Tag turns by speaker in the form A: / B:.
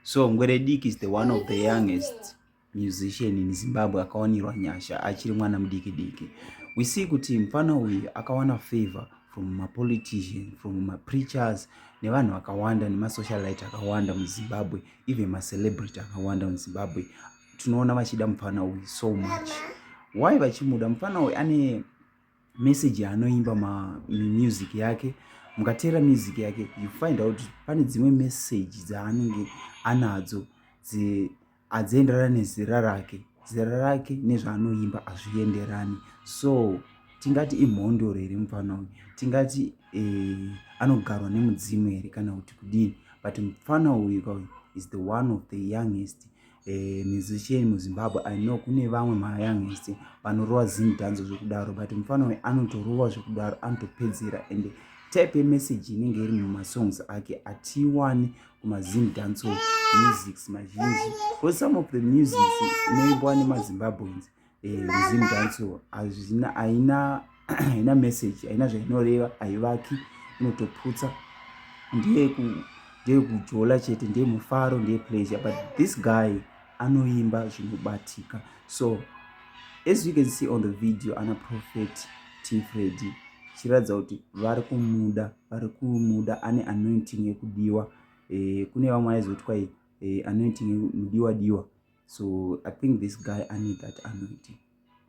A: So Ngwerediki is the one of the youngest musician in Zimbabwe akawanirwa nyasha achiri mwana mudiki diki. We see kuti mfana uyu akawana favor from ma politician, from ma preachers nevanhu vakawanda nema socialite akawanda mu Zimbabwe, even ma celebrity akawanda mu Zimbabwe. Tinoona vachida mfana uyu so much. Why vachimuda mfana uyu ane message yaanoimba mamusic yake mukateera music yake you find out pane dzimwe message dzaanenge anadzo adzienderana nezera rake zera rake nezvaanoimba azvienderani so tingati imhondoro here mupfana uyu tingati eh, anogarwa nemudzimu here kana kuti kudini but mupfana uyu kauyu is the one of the youngest Eh, musician muzimbabwe i know kune vamwe mayangisti vanorova zim danzo zvekudaro but mufana uyu anotorova zvekudaro anotopedzera and type yemessage inenge iri mumasongs ake atiiwani kumazim danso musics mazhinji bcause some of the musics inoimbwa nemazimbabweans resume danso hazvina haina haina message haina zvainoreva haivaki inotoputsa ndeye ndeye kujola chete ndeye mufaro ndeye pleasure but this guy anoimba zvinobatika so as you can see on the video ana prophet tifredi chiratidza kuti vari kumuda vari kumuda ane anointing yekudiwa e, kune vamwe aizoti kwai eh, anointing mudiwa diwa so i think this guy ane that anointing